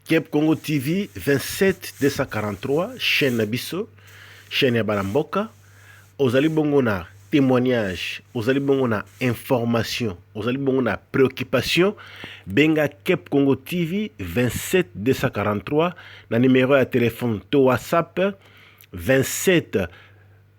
Kep Congo TV 27 243 chaîne na biso chaîne ya bana mboka ozali bongo na témoignage ozali bongo na information ozali bongo na préoccupation benga Kep Congo TV 27 243 na numéro ya téléphone to WhatsApp 27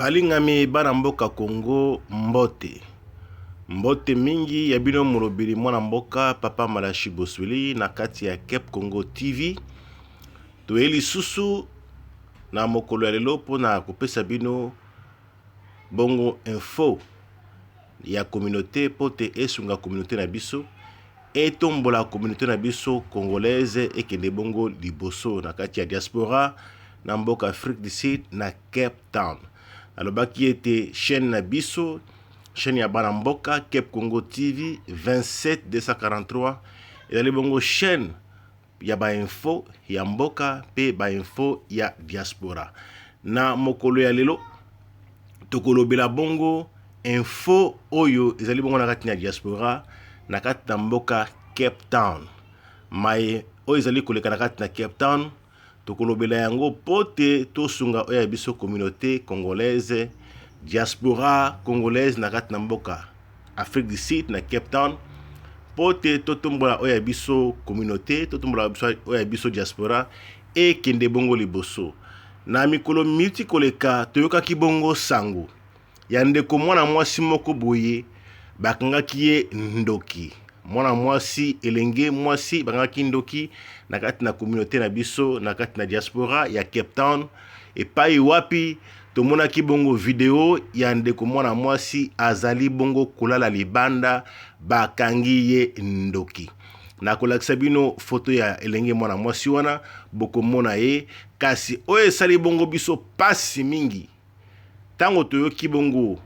Balingami bana mboka Congo mbote. Mbote mingi ya bino molobeli mwana mboka Papa Malashi Bosweli na kati ya Cape Congo TV. Toye lisusu na mokolo ya lelo mpo na kopesa bino bongo info ya communauté mpo te esunga communauté na biso etombola communauté na biso congolaise ekende bongo liboso na kati ya diaspora na mboka Afrique du Sud na Cape Town. Alobaki ete chaîne na biso, chaîne ya bana mboka Cape Congo TV 27243 ezali bongo chaîne ya ba info ya mboka pe ba info ya diaspora. Na mokolo ya lelo tokolobela bongo info oyo ezali bongo na kati na diaspora na kati na mboka Cape Town. Maye oyo ezali koleka na kati na Cape Town Tokolobela yango pote tosunga oyo ya biso communaute congolaise diaspora congolaise na kati na mboka Afrique du Sud na Cape Town pote totombola oyo ya biso communaute totombola oyo ya biso diaspora ekende bongo liboso na mikolo miti koleka toyokaki bongo sango ya ndeko mwana mwasi moko boye bakangaki ye ndoki mwana mwasi elenge mwasi bakangaki ndoki na kati na communauté na biso na kati na diaspora ya Cape Town epai wapi tomonaki bongo video ya ndeko mwana mwasi azali bongo kolala libanda bakangi ye ndoki nakolakisa bino foto ya elenge mwana mwasi wana bokomona ye kasi oyo esali bongo biso pasi mingi Ntango toyoki bongo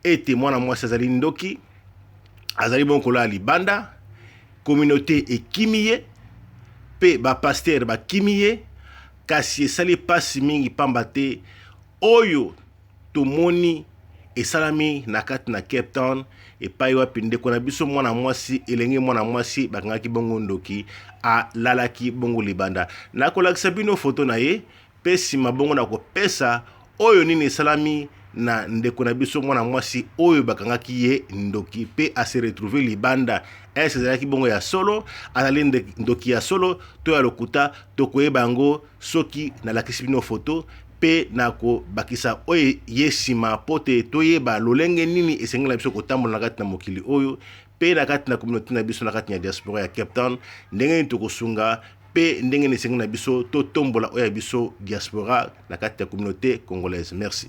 ete mwana mwasi azali ndoki, azali bongo kolala libanda, communaute ekimi ye mpe bapastere bakimi ye, kasi esali mpasi mingi mpamba te oyo tomoni esalami na kati na Cape Town epai wapi ndeko na biso mwana mwasi, elenge mwana mwasi bakangaki bongo ndoki, alalaki bongo libanda. Nakolakisa bino foto na ye mpe nsima bongo na kopesa oyo nini esalami na ndeko na biso mwana mwasi oyo bakangaki ye ndoki mpe ase retrouve libanda ese ezalaki bongo ya solo azali ndoki ya solo to ya lokuta tokoyeba yango soki nalakisi bino foto mpe na kobakisa oyo ye nsima mpo te toyeba lolenge nini esengeli na biso kotambola na kati na mokili oyo mpe na kati na communauté na biso na kati ya diaspora ya Cape Town ndenge nini tokosunga mpe ndenge nini esengi na biso totombola oyo ya biso diaspora na kati ya communauté congolaise merci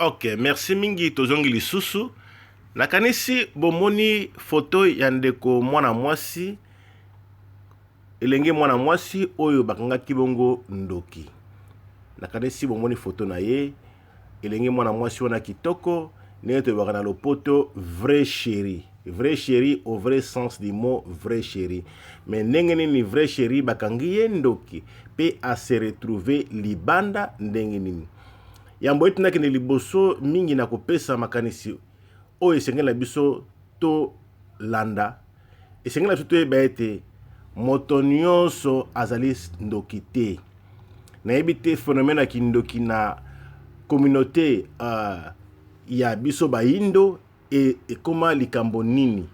Ok, merci mingi tozongi lisusu. Nakanisi bomoni foto ya ndeko mwana mwasi elenge mwana mwasi oyo bakangaki bongo ndoki. Nakanisi bomoni foto na ye elenge mwana mwasi wana kitoko ndenge toyebaka na lopoto vrai chéri vrai chéri au vrai sens du mot vrai chéri me ndenge nini vrai chéri bakangi ye ndoki mpe ase retrouve libanda ndenge nini Yambo ete nakende liboso mingi na kopesa makanisi oyo esengeli na biso tolanda, esengeli na biso toyeba ete moto nyonso azali ndoki te. Nayebi te phénomène ya kindoki na communauté uh, ya biso bayindo e, ekoma likambo nini?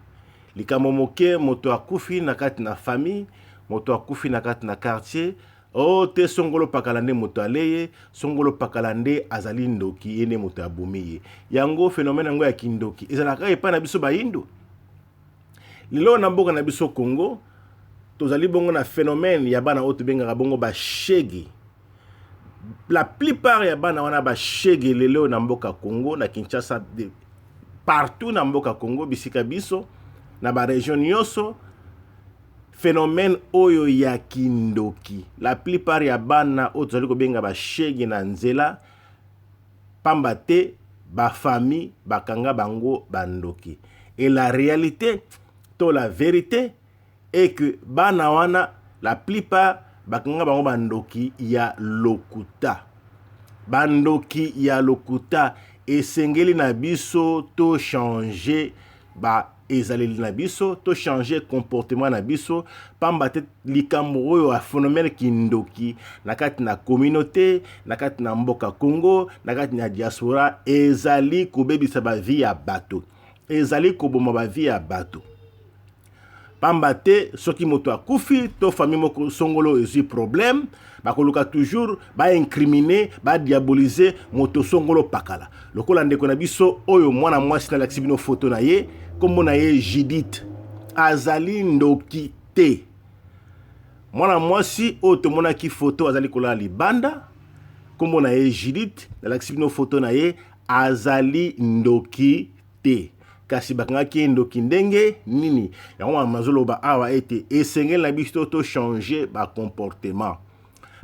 Likambo moke, moto akufi na kati na famille, moto akufi na kati na quartier, Oh te songolo pakala nde moto aleye songolo pakala nde azali ndoki ye nde moto ya bomi ye yango phenomène yango ya kindoki ezalaka epai na biso bayindo lelo na mboka na biso Congo tozali bongo na phénomène ya bana oyo tobengaka bongo bashege la plupart ya bana wana bashege lelo na mboka Congo na Kinshasa de, partout na mboka Congo bisika biso na ba region nyonso phenomène oyo ya kindoki la plupart ya bana oyo tozali kobenga ba shege na nzela pamba te ba famille bakanga bango ba ndoki et la realite to la verite est que bana wana la plupart bakanga bango ba ndoki ya lokuta ba ndoki ya lokuta esengeli na biso to changer ba ezaleli na biso to changer comportement na biso pamba te likambo oyo ya phénomène kindoki na kati na communauté na kati na mboka Congo na kati na diaspora ezali kobebisa ba vie ya bato ezali koboma ba vie ya bato pamba te soki moto akufi to famille moko songolo ezwi problème bakoluka toujours ba incriminer ba diaboliser moto songolo pakala lokola ndeko na biso oyo mwana mwasi nalakisi bino foto na ye nkombo na ye judith azali ndoki te mwana mwasi oyo tomonaki foto azali kolala libanda nkombo na ye judith nalakisi bino foto na ye azali ndoki te kasi bakangaki ye ndoki ndenge nini yango wana nazoloba awa ete esengeli na biso to changer ba comportement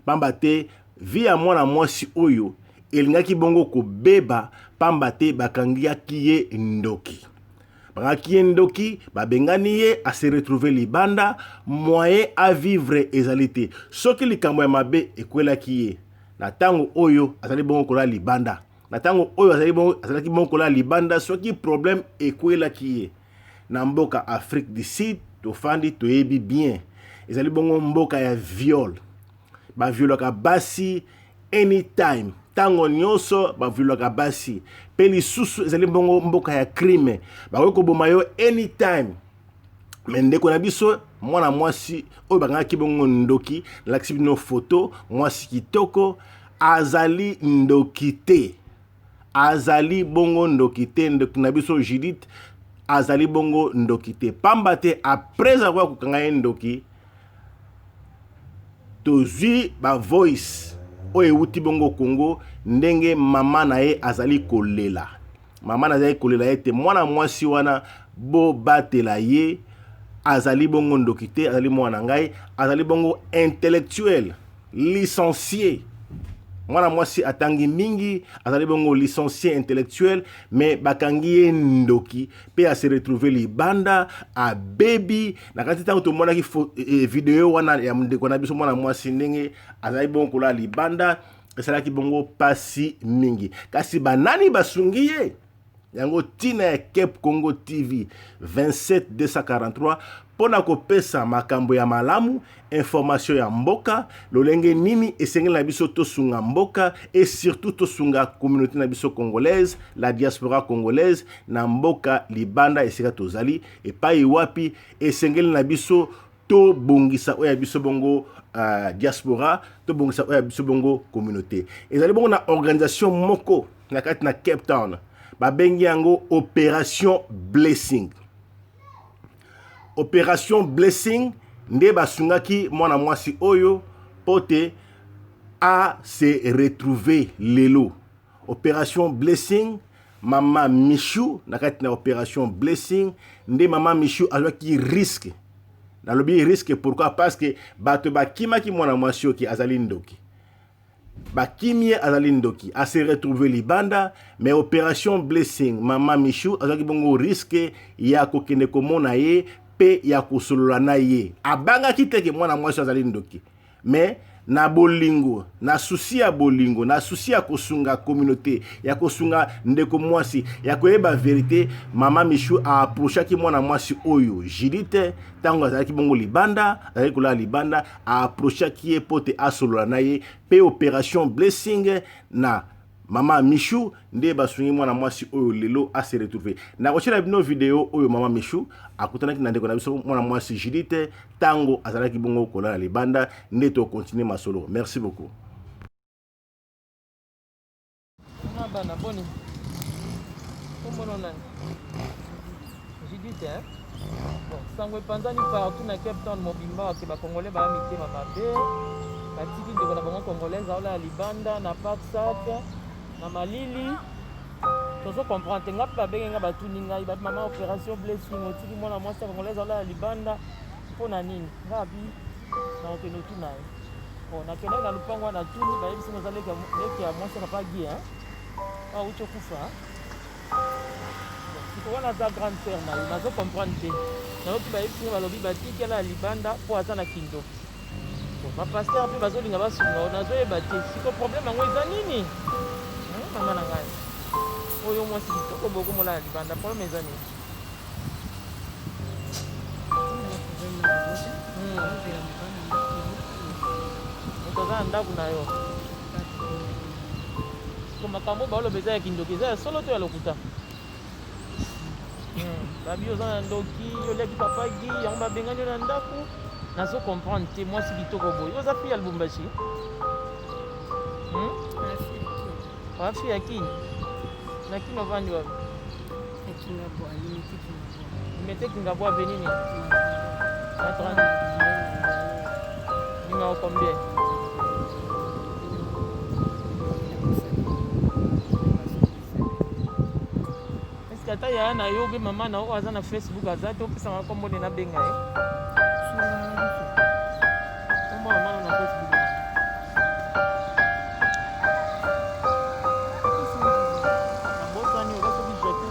pamba te vie ya mwana mwasi oyo elingaki bongo kobeba pamba te bakangiaki ye ndoki bakangaki ye ndoki babengani ye ase retrouve libanda moyen a vivre ezali te soki likambo ya mabe ekwelaki ye na ntango oyo azali bongo kolala libanda na ntango oyo azali bongo azalaki bongo kolala libanda soki problème ekwelaki ye na mboka afrique du sud tofandi toyebi bien ezali bongo mboka ya viol baviolaka basi anytime ntango nyonso baviolaka basi mpe lisusu ezali bongo mboka ya crime bakoki koboma yo anytime me ndeko na biso mwana mwasi oyo bakangaki bongo ndoki nalakisi bino foto mwasi kitoko azali ndoki te azali bongo ndoki te ndoki na biso judith azali bongo ndoki te pamba te apres akoya kokanga ye ndoki tozwi bavoice oyo euti bongo kongo ndenge mama na ye azali kolela mama nazalaki kolela ete mwana mwasi wana bobatela ye azali bongo ndoki te azali mwana na ngai azali bongo intellectuel licencie mwana mwasi atangi mingi azali bongo licencie intellectuel me bakangi ye ndoki mpe ase retrouve libanda abebi na kati ntango tomonaki e, e, video wana ya ndeko na biso mwana mwasi ndenge azali bongo kolala libanda esalaki bongo pasi mingi kasi banani basungi ye yango tina ya Cape Congo TV 27243 mpo na kopesa makambo ya malamu information ya mboka lolenge nini esengeli na biso tosunga mboka et surtout tosunga communauté na biso congolaise la diaspora congolaise na mboka libanda esika tozali epai wapi esengeli na biso to bongisa oya biso bongo uh, diaspora to bongisa oya biso bongo communauté ezali bongo na organisation moko na kati na Cape Town babengi yango opération blessing opération blessing nde basungaki mwana mwasi oyo mpo te a se retrouver lelo Operation Blessing, mama Michou na kati na operation Blessing nde mama Michou azwaki risque. Nalobi risque pourquoi? Parce que bato bakimaki mwana mwasi oki azali ndoki. Bakimi ye azali ndoki, a se retrouver libanda, mais operation Blessing, mama Michou azwaki bongo risque ya kokende komona ye pe ya kosolola na ye. Abangaki te ke mwana mwasi azali ndoki. mais na bolingo na susi ya bolingo na susi ya kosunga communauté ya kosunga ndeko mwasi ya koyeba verite mama michu aapprochaki mwana mwasi oyo judite ntango azalaki bongo libanda azalaki kolala libanda aapprochaki ye mpo te asolola na ye mpe operation blessing na Maman Michou nde basungi mwana mwasi oyo lelo a se retrouver. Nakotiela bino video oyo Maman Michou akutanaki na ndeko na biso mwana mwasi Judith tango azalaki bongo kolala libanda nde to continuer masolo. Merci beaucoup. Kuna bana boni? Kombo na nani? Judith hein? Sango epanzani partout na Cape Town mobimba ke ba congolais ba mitema mabe batiki ndeko na bango congolaise aola ya libanda na parc sac na malili tozo comprendre te ngai mpe babenge ngai batuni ngai babi mama opération blessing otiki mwana mwasi ya congolaise aola ya libanda mpo na nini ngai abi na okende otuna ye bon nakendaki na lopango wana tuni bayebisi naza leki ya mwasi ya papa gie auti okufa sikoyo wana aza grande sœur na yo nazo comprendre te nayoki bayebisi nga balobi batikela ya libanda mpo aza na kindoki bapasteur mpe bazolinga basunga yo nazoyeba te siko problème yango eza nini hmm, mama na ngai oyo mwasi kitoko bokomolaa libanda problème eza nini moto hmm. aza na ndako na yo Ko makambo ba loba eza ya kindoki eza ya solo to ya lokuta. Hmm, babi oza na ndoki oleki papa gi yango babengani yo na ndako nazo comprendre te mwasi kitoko boye oza fi ya lubumbashi hmm? wafi ya kini na kini ovandi wapi Mete kingabo avenue ni. Na 30. Numéro combien? Est-ce que ata yaya na yo obe mama na yo aza na Facebook aza te opesanga kombo nde nabenga ye? Kombo ya mama na Facebook. Nabosani oza soki jetu.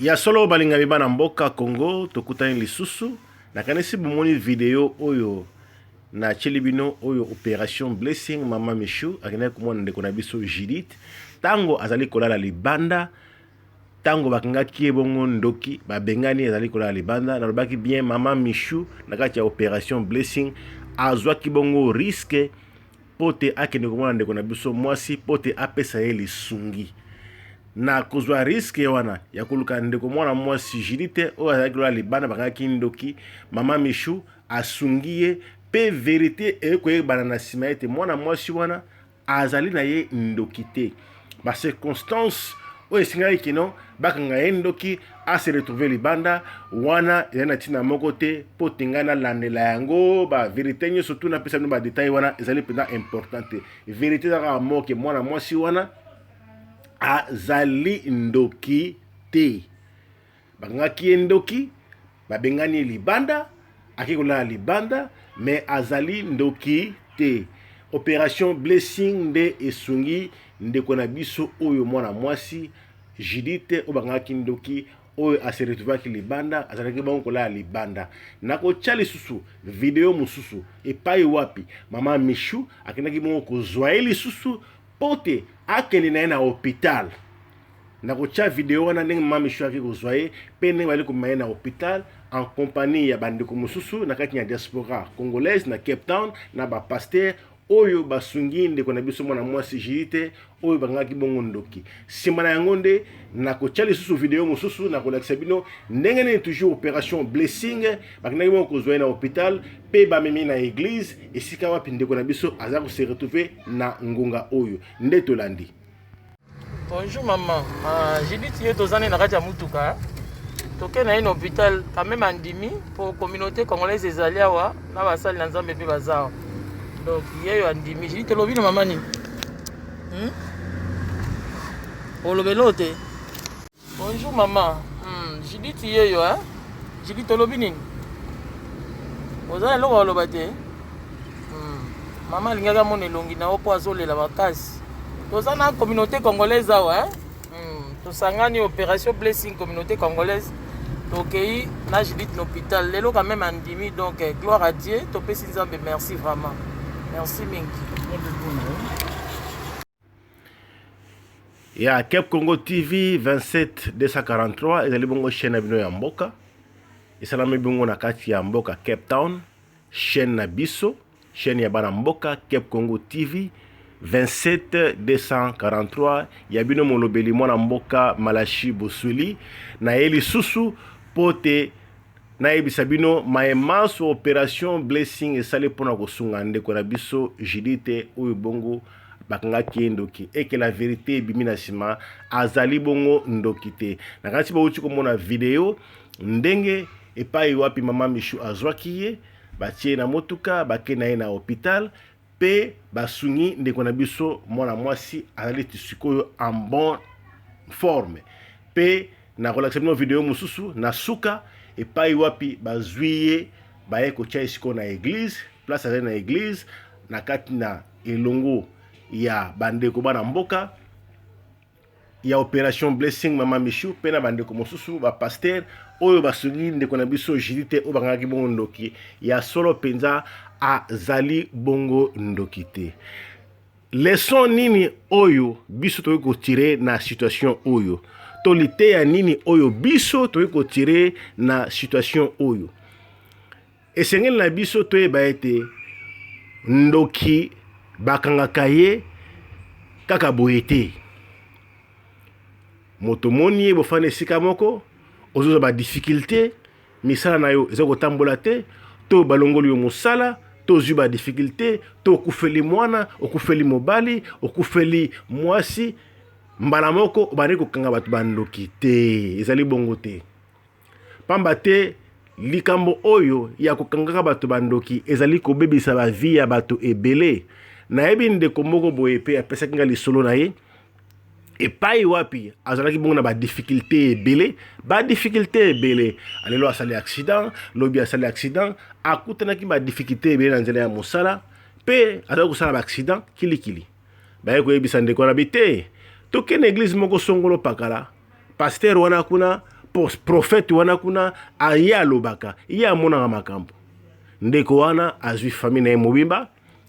Ya solo balingami bana mboka Congo tokutani lisusu nakanisi bomoni video oyo na cheli bino oyo operation blessing mama Michou akendaki komona ndeko na biso Judith tango azali kolala libanda tango bakangaki ye bongo ndoki babengani azali kolala libanda nalobaki bien mama Michou na kati ya operation blessing azwaki bongo risque mpo te akende komona ndeko na biso mwasi mpo te apesa ye lisungi na kozwa riske wana ya koluka ndeko mwana mwasi jili te oyo azalaki lola libanda bakangaki ndoki mama michou asungi ye mpe verite ekoyebana na nsima ete mwana mwasi wana azali na ye ndoki te ba circonstances oyo esengaki kino bakanga ye ndoki ase retrouve libanda wana ezali na ntina moko te mpo te ngai nalandela yango baverité nyonso tu napesa bino badetail wana ezali mpenza important te verité eza kaka moke mwana mwasi wana azali ndoki te Bakangaki ye ndoki, babengani ye libanda, ake kolala libanda, me azali ndoki te. Operation Blessing nde esungi ndeko na biso oyo mwana mwasi Judith oyo bakangaki ndoki oyo ase retrouvaki libanda, azalaki bongo kolala libanda. Nakotya lisusu video mosusu epai wapi mama Michou akendaki bongo kozwa ye lisusu mpo te akende na ye na hopital. nakotya video wana ndenge mama michou ayaki kozwa ye mpe ndenge bayali komema ye na hôpital en compagnie ya bandeko mosusu na kati ya diaspora congolaise na cape town na bapaster oyo basungi ndeko na biso mwana mwasi jidite oyo bangaki bongo ndoki nsima na yango nde nakotya lisusu video mosusu nakolakisa bino ndenge nini toujours opération blessing bakendaki bongo kozwa ye na hôpital mpe bamemi na église esika wapi ndeko na biso aza kose retrouve na ngonga oyo nde tolandi Bonjour maman. Ah, Judith yo tozane na kati ya mutuka. Toke na une hôpital quand même andimi pour communauté congolaise ezali awa na basali na Nzambe pe bazawa. Donc yeyo andimi. Judith lobi na maman ni. Hmm? Olobelo te. Bonjour maman. Hmm, Judith yeyo hein. Judith olobi nini? Oza na eloko oloba te. Hmm. Mama alingaka mona elongi na yo mpo azolela makasi. Toza na communauté congolaise awa hein. Hmm. Tosangani opération blessing communauté congolaise. Tokei na Judith na hôpital. Lelo quand même andimi donc eh, gloire à Dieu. Topesi Nzambe merci vraiment. Merci mingi. ya Cap Congo TV 27243 ezali bongo chaîne na bino ya mboka esalami bongo na kati ya mboka Cape Town chaîne na biso chaîne ya bana mboka Cap Congo TV 27243 ya bino molobeli mwana mboka Malashi Bosweli na ye lisusu mpo te nayebisa bino maye manso operation blessing esali mpo na kosunga ndeko na biso Judite oyo bongo bakangaki ye ndoki eke la verite ebimi na nsima azali bongo ndoki te na kasi bauti komona video ndenge epai wapi mama mishu azwaki ye batie na motuka bake na ye na hopital mpe basungi ndeko na biso mwana mwasi azali ti sikoyo en bon forme mpe nakolakisa bino video mosusu na suka epai wapi bazwi ye baye kotya ye sikoyo na eglize place azali na eglize na kati na elongo ya bandeko bana mboka ya operation blessing mama michou mpe na bandeko mosusu bapaster oyo basungi ndeko na biso jili te oyo bakangaki bongo ndoki ya solo mpenza azali bongo ndoki te leson nini oyo biso tokoki kotire na situation oyo to liteya nini oyo biso tokoki kotire na situation oyo Esengeli na biso toyeba ete ndoki bakangaka ye kaka boye te moto omoni ye bofanda esika moko ozozwa ba difficulté misala na yo eza kotambola te to balongoli yo mosala to ozwi ba difficulté to okufeli mwana okufeli mobali okufeli mwasi mbala moko obandi kokanga bato bandoki te ezali bongo te Pamba te likambo oyo ya kokangaka bato bandoki ezali kobebisa ba vie ya bato ebele. Nayebi ndeko moko boye pe apesaki nga lisolo na ye epai wapi azalaki bongo na ba difficulte ebele ba difficulte ebele alelo asali accident lobi asali accident akutanaki ba difficulte ebele na nzela ya mosala pe azali kosala ba accident kilikili baye koyebisa ndeko wana bi te tokende eglize moko songolo pakala pasteur wana kuna prophète wana kuna aye alobaka ye amonaka makambo ndeko wana azwi famille na ye mobimba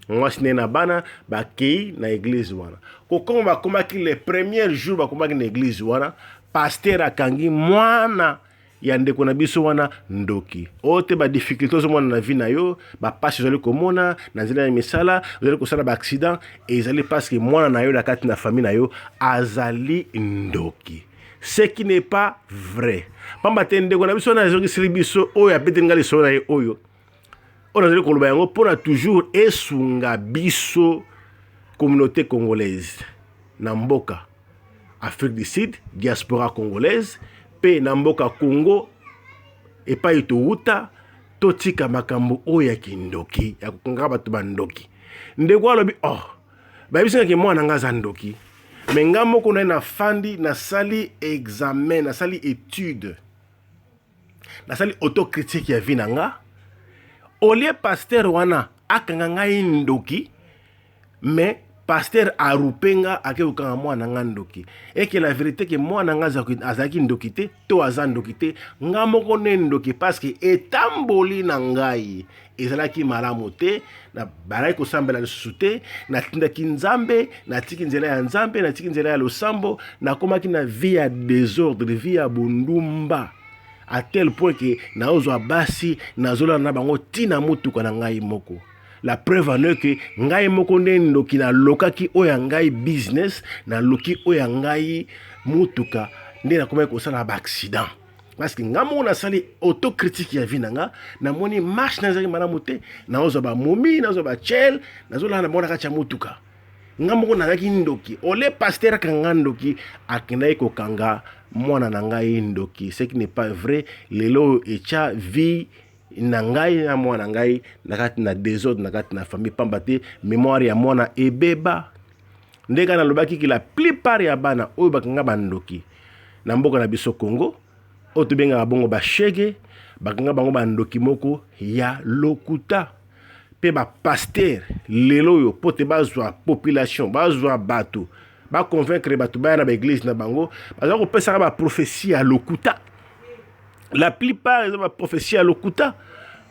mwasi na ye na bana bakei na eglize wana kokoma bakomaki le premier jour bakomaki na eglize wana pasteur akangi mwana ya ndeko na biso wana ndoki oyo te badifficulte ozomona na vie na yo bapasi ozali komona na nzela ya misala ozali kosala baaccident ezali parceke mwana na yo na kati na famille na yo azali ndoki ce qui n'est pas vrai pamba te ndeko na biso wana azongiseli biso oyo abeteli ngai lisolo na ye oyo oyo nazali koloba yango mpo na toujours esunga biso communauté congolaise na mboka afrique du sud diaspora congolaise mpe na mboka congo epai towuta totika makambo oyo ya kindoki ya kokangaka bato bandoki ndeko alobi oh bayebisingaki mwana ngai aza ndoki me ngai moko naye nafandi nasali examen nasali etude nasali autocritique ya vie na nga olie pasteur wana akanga ngai ndoki mais pasteur arupe nga ake kokanga mwana nga ndoki eke la verite ke mwana nga azalaki ndoki te to aza ndoki te nga moko ne ndoki parceke etamboli na ngai ezalaki malamu te nabalaki kosambela lisusu te natindaki nzambe natiki nzela ya nzambe natiki nzela ya losambo nakomaki na vie ya desordre vie ya bondumba à tel point que naozwa basi nazolala na bango ti na motuka na ngai moko la preuve en est que ngai moko nde ndoki nalokaki oyo ya ngai business naloki oyo ya ngai motuka nde nakomaki kosala baaccident parce que nga moko nasali autocritique ya vie na nga namoni marche nazalaki malamu te naozwa bamomi nazwa bachel nazolala na bango na kati ya motuka nga moko nazalaki ndoki ole paster akanga ndoki akendaki kokanga mwana na ngai ndoki ce qui n'est pas vrai lelo oyo etya vie na ngai na mwana ngai na kati na desordre na kati na famille pamba te mémoire ya mwana ebeba ndenge nalobaki ke la plupart ya bana oyo bakanga bandoki Na mboka na biso Congo oyo tobengaka bongo ba shege bakanga bango bandoki moko ya lokuta mpe bapaster lelo oyo mpo te bazwa population bazwa bato baconvaincre bato baya na baeglise na bango baza kopesaka baprofesi ya lokuta la plupart eza baprofesi ya lokuta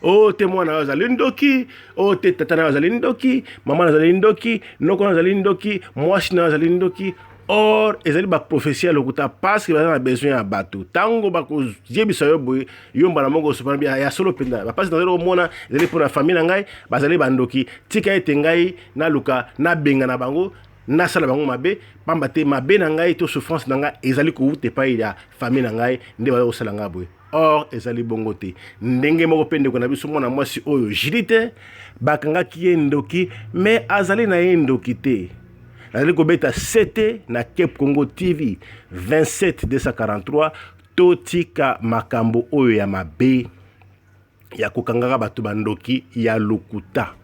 o oh, te mwana oyo azali ndoki o oh, te tata nayo azali ndoki mama nazali ndoki noko nayo azali ndoki mwasi nayo azali ndoki or ezali baprofesi ya lokuta parceke baza na besoin ya bato ntango bakoyebisa yo boye yo mbala moko osopana bia ya solo mpenza bapasi nazali komona ezali mpo na famille na ngai bazali bandoki tika ete ngai naluka nabenga na bango nasala bango mabe pamba te mabe na ngai to souffrance na ngai ezali kowuta epai ya famille na ngai nde baza kosala ngai boye or ezali bongo te ndenge moko mpe ndeko na biso mwana mwasi oyo jilite bakangaki ye ndoki me azali na ye ndoki te nazali kobeta sete na cape congo tv 27243 totika makambo oyo ya mabe ya kokangaka bato bandoki ya lokuta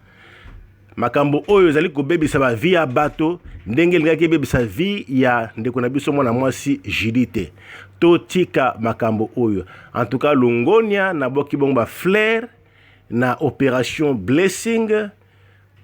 makambo oyo ezali kobebisa bavi ya bato ndenge elingaki ebebisa vi ya ndeko na biso mwana mwasi judite totika makambo oyo en tout cas longonia na boki bongo ba flair na operation blessing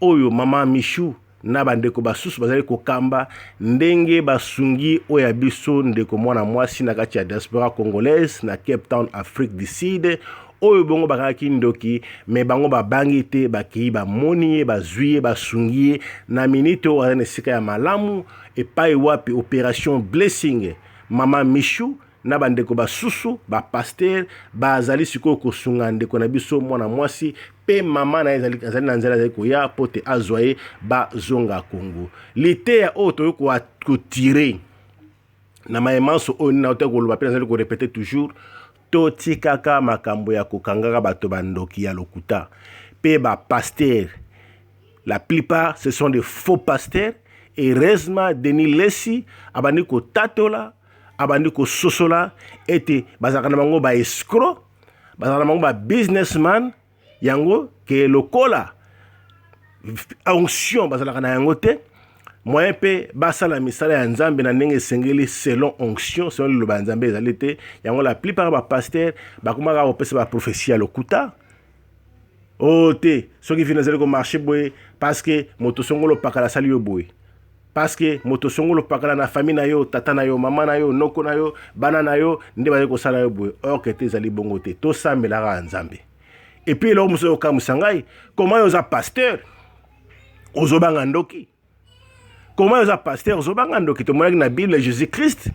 oyo mama Michou na bandeko basusu bazali kokamba ndenge basungi oyo ya biso ndeko mwana mwasi na kati ya diaspora congolaise na Cape Town, Afrique du Sud, oyo bongo bakangaki ndoki me bango babangi te, bakei bamoni ye, bazwi ye, basungi ye na minite oyo azali na esika ya malamu, epai wapi operation Blessing mama Michou na bandeko basusu bapastere bazali sikoyo kosunga ndeko na biso mwana mwasi mpe mama na ye azali na nzela azali koya mpo te azwa ye bazonga kongo liteya oyo toyoki kotire na maye manso oyo nini autaki koloba mpe nazali korepete toujours totikaka makambo ya kokangaka bato bandoki ya lokuta mpe bapastere la plupart ce sont des faux pasteurs heureusement denis lesi abandi kotatola abandi kososola ete bazalaka na bango ba escro bazalaka na bango ba businessman yango ke lokola onction bazalaka na yango te moyen mpe basala misala ya nzambe na ndenge esengeli selon onction selon liloba ya nzambe ezali te yango la plupart ya bapastere bakomaka kopesa baprophesie ya lokuta Oh te, soki vino ezali ko marche boye parce que moto songolo pakala asali yo boye. Parce que moto songolo pakala na famille na yo, tata na yo, mama na yo, noko na yo, bana na yo nde bazali kosala yo boye. Or que te ezali bongo te. Tosambela kaka Nzambe. Et puis eloko mosusu okamwisa ngai, comment yo oza pasteur ozobanga ndoki? koma oza pasteur ozobanga ndoki tomonaki na bible jésus christ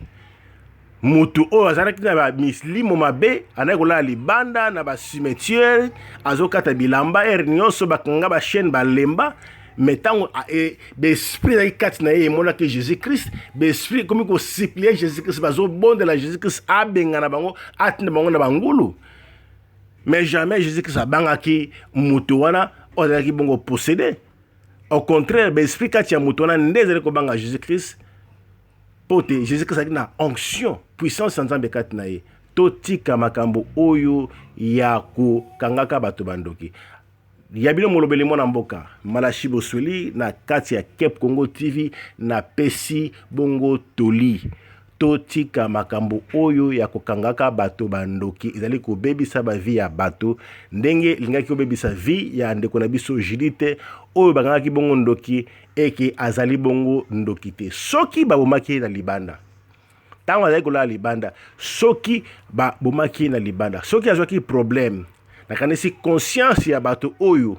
mutu oyo azalaki na bamislimo mabe andaki kolala libanda na bacimetiere azokata bilamba ere nyonso bakanga bachaine balemba me ntango e, baesprit ezalaki kati na ye emonaki jésus christ baesprit ekomi kosiplie jésus christ bazobondela jésus christ abengana bango atinda bango na bangulu mais jamais jésus christ abangaki moto wana oyo azalaki bongo posede Au contraire, ba esprit kati ya moto wana nde ezali kobanga Jesus Christ mpo te Jesus Christ azalaki na onction, puissance ya Nzambe kati na ye. Totika makambo oyo ya kokangaka bato bandoki. Ya bino molobeli mwana mboka Malashi Bosweli na kati ya Cape Congo TV na pesi bongo toli. Totika makambo oyo ya kokangaka bato ba ndoki, ezali kobebisa ba vie ya bato ndenge elingaki kobebisa vie ya ndeko na biso Judithe oyo bakangaki bongo ndoki et que azali bongo ndoki te. Soki babomaki ye na libanda ntango azali kolala libanda, soki babomaki ye na libanda, soki azwaki problème, nakanisi conscience ya bato oyo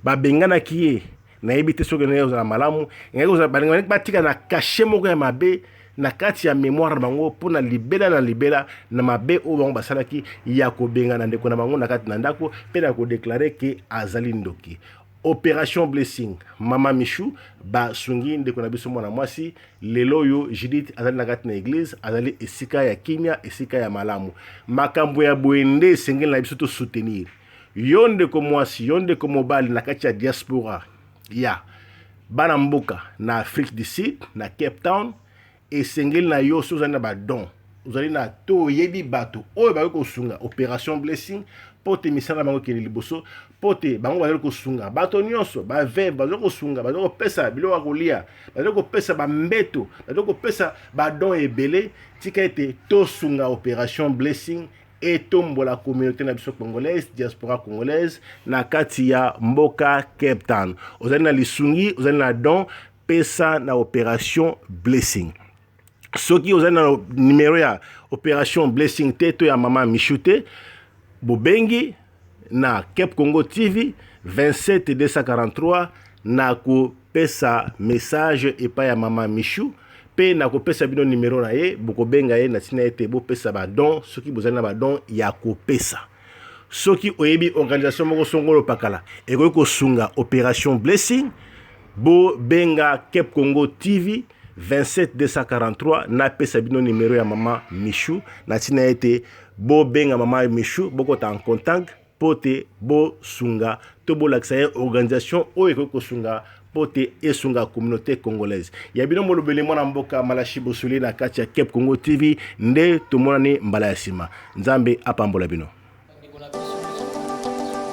babenganaki ye nayebi te soki ndenge kozala malamu engaki kozala balingi baleki batika na kashe moko ya mabe na kati ya memoire na bango mpo na libela na libela na mabe oyo bango basalaki ya kobengana ndeko na bango na kati na ndako mpe na kodeklare ke azali ndoki operation blessing mama michou basungi ndeko na biso mwana mwasi lelo oyo judith azali na kati na eglize azali esika ya kimia esika ya malamu makambo ya boye nde esengeli na biso tosoutenir Yo ndeko mwasi, yo ndeko mobali na kati ya diaspora ya bana mboka na Afrique du Sud, na Cape Town, esengeli na yo soki ozali na badon, ozali na to oyebi bato oyo bakoki kosunga Operation Blessing mpo te misala na bango ekende liboso, mpo te bango bazali kosunga bato nyonso, baveve bazali kosunga, bazali kopesa biloko ya kolia, bazali kopesa bambeto, bazali kopesa badon ebele. Tika ete tosunga Operation Blessing etombola communauté na biso congolaise diaspora congolaise na kati ya mboka Cape Town. Ozali na lisungi, ozali na don, pesa na operation blessing. Soki ozali na numero ya operation blessing te to ya mama Michou te, bobengi na kepcongo tv 27243 nakopesa message epai ya mama michou mpe nakopesa bino nimero na ye bokobenga ye na ntina ete bopesa badon soki bozali na badon ya kopesa soki oyebi organisation moko songolo pakala ekoki kosunga operation blessing bobenga cap congo tv 27243 napesa bino nimero ya mama michou na ntina ete Bo benga mama Michou bokota en contact mpo te bosunga to bolakisa ye organisation oyo ekoki kosunga mpo te esunga communauté congolaise ya bino molobeli mwana mboka malashi bosoli na kati ya cap congo tv nde tomonani mbala ya nsima nzambe apambola bino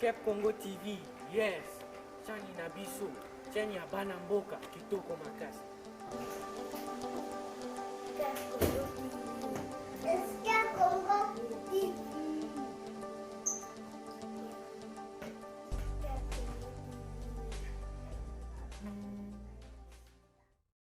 Cap Congo TV, yes, chani na biso, chani ya bana mboka, kitoko makasi.